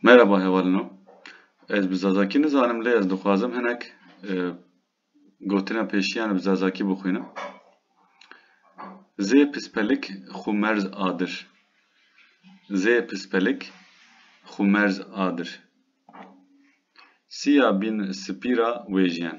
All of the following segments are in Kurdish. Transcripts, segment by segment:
Merhaba hevalino. Ez bi Zazakî nizanim lê ez dixwazim hinek e, gotina pêşiyan bi Zazakî bixwînim. Zê pispelik xu merz adir. Zê pispelik xu merz adir. Siya bîn sipî ra wêjiyen.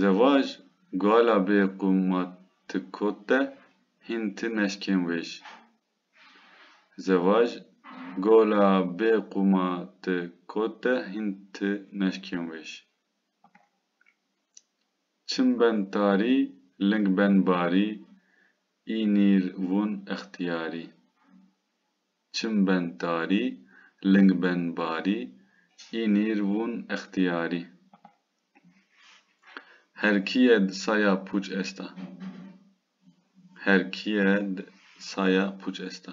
Zevaj gala bê qûma ti kot de hîn ti neşkên wêj. Zevaj gala bê qûma ti kot de hîn ti neşkên wêj. Çim ben tarî, ling ben barî, î nîr vûn extîyarî. Çim ben tarî, ling ben barî, Înîr vûn extîyarî. Her kî ye di saya pûç esta. Her kî ye di saya pûç esta.